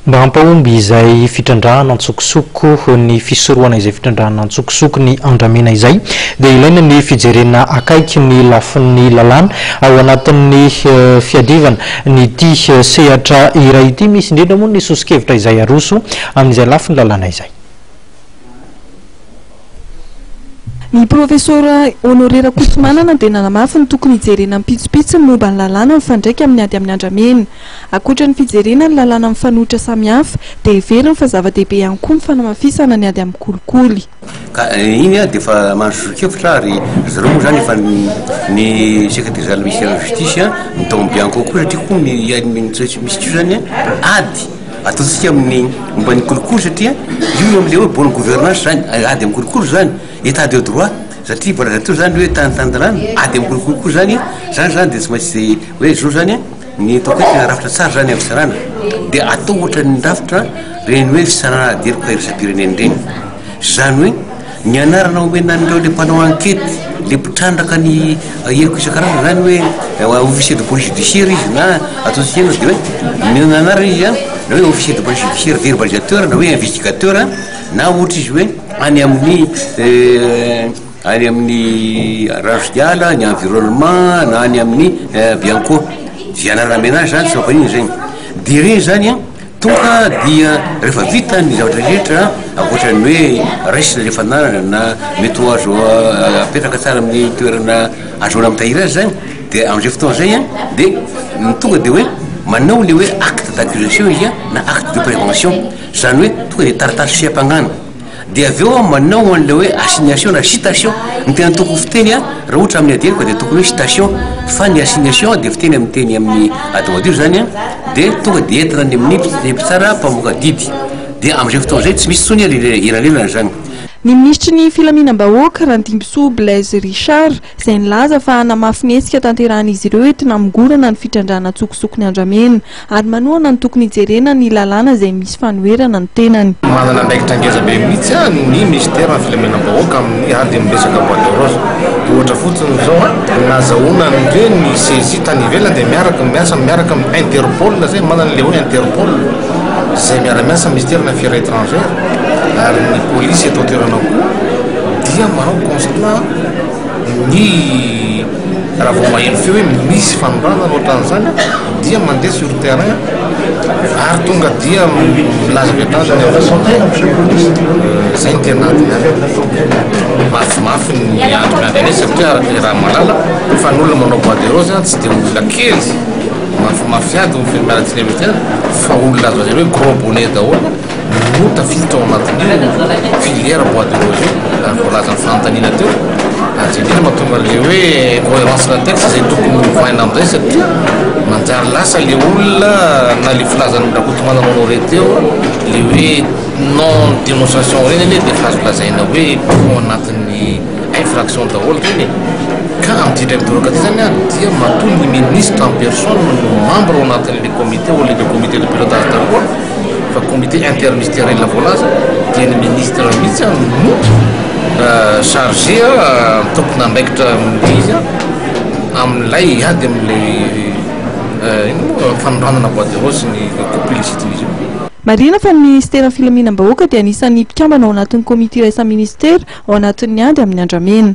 Mba hampahomby izay fitrandrahana an-tsokosoko, ny fisorohana izay fitrandrahana an-tsokosoko ny andramena izay dia ilaina ny fijerena akaiky ny lafiny lalàna ao anatin'ny fiadivana an'ity sehatra iray ity. Misy indrindra moa ny soso-kevitra izay aroso amin'izay lafiny lalàna izay. Ny Profesora Honoré Rakotomanana dia nanamafy ny tokony hijerena ampitsopitsony ny momba ny lalàna mifandraika amin'ny ady amin'ny andramena. Ankoatra ny fijerena ny lalàna mifanohitra samihafa, dia heveriny fa zava-dehibe ihany koa ny fanamafisana ny ady amin'ny kolikoly. Ka iny dia efa mahazo zoron-kevitra ary ry zareo moa izany efa ny Secrétaire général du ministère de la justice, ny tao amin'ny Bianco koa satria koa ny tsy misy intsony izany ady. Ataontsika amin'ny momba ny kolikoly satria io eo amin'ilay hoe bonne gouvernance izany, ady amin'ny kolikoly izany, état de droit, satria mbola avy aty izany ny hoe tany tanindalàna, ady amin'ny kolikoly koa izany, izany izany dia tsy maintsy hoe izao izany ny ataoko hoe tena rafitra tsara izany amin'ny fisarahana, dia atao ohatran'ny rafitra ireny hoe fisarahana ady heloka iraisam-pirenena ireny, izany hoe. Ny anarana omena an'ireo le mpanao ankety, le mpitrandraka ny heloka isan-karazany zany hoe officier de police judiciaire izy na ataontsika inona de hoe ny anarany izy an na hoe officier de police judiciaire verbalisateur na hoe investigateur na ohatra izy hoe any amin'ny any amin'ny rano sy ala, ny environnement na any amin'ny bianco, ze anarana omena azy zany tsy mampaninona zegny, de regny zany an. Tonga dia rehefa vita ny zavatra rehetra, ankoatra ny hoe resy ilay fananana na mety ho azo apetraka tsara amin'ny toerana ahazoana mitahiry azy zany, dia amin'izay fotoana izay an, dia tonga dia hoe manao ilay hoe acte d'accusation izy an, na acte de prévention, izany hoe tonga dia taratasy fiampangana. Dia avy eo aho manao an'ilay hoe assignation na citation. Ny tena tokony fiteny an, raha ohatra amin'ny adieny ka dia tokony hoe citation. Fa ny assignation dia fiteny amin'ny teny amin'ny ady madio izany an, dia tonga dia entina any amin'ny ny mpitsara mpamoaka didy. Dia amin'izay fotoana izay tsy misy intsony an ilay elanelana izany. Ny minisitry ny filaminam-bahoaka, Randimbisoa Blaise Richard, izay nilaza fa hanamafy ny hetsika tanterahan'izy ireo entina hamongorana ny fitrandrahana an-tsokosoko ny andramena ary manohana ny tokony hijerena ny lalàna izay misy fanoherana ny tenany. Manana andraikitra ngeza be mihitsy an ny minisiteran'ny filaminam-bahoaka amin'ny ady amin'ny resaka bois de rose. Ohatra fotsiny izao an, nazahoana an'ireny ny CECI tany ivelany dia miaraka ny miasa miaraka amin'ny Interpol izay manana ilay hoe Interpol izay miara-miasa amin'ny minisiteran'ny afera etrangera ary ny polisy eto an-toerana koa dia manao constat ny raha vao maheno feo hoe misy fanondranana ohatran'izany dia mandeha sur terrain ary tonga dia milaza avy hatrany ny an'la santé zay ny tena antony any mafimafy ny antony avy any satria araka ny raha mahalala fa ny olona manao bois de rose a tsy dia olona kely mafimafy ady ny fianakaviantsika avy hatrany fa olona azo lazaina hoe gros bonnet daholo no tafiditra ao anatin'io filière bois de rose io voalazan'ny fanontaniana teo ary zay indrindra mahatonga an'ilay hoe cohérence na texte izay tokony hovaina amin'izay satria manjary lasa le olona na le filazan'ny rakotomana manao re teo le hoe non dénonciation reny anie dia azo lazaina hoe ao anatin'ny Infraction daholo ireny e! Ka amin'ity indray midoroka ity izany an, dia matoa ny ministre en personne no membre ao anatin'ilay comité ou ilay comité de pilotage daholo fa comité intermisteirel voalaza dia ny ministre mihitsy an no chargé an, tompon'andraikitra amin'ilay izy an, amin'ilay hiady amin'ilay inona moa fanondranana bois de rose sy ny coupe illicite-n'izy io. Marihina fa ny Minisiteran'ny Filaminam-bahoaka dia anisan'ny mpikambana ao anatin'ny Komity Iraisam-Minisitera ao anatin'ny Ady amin'ny Andramena.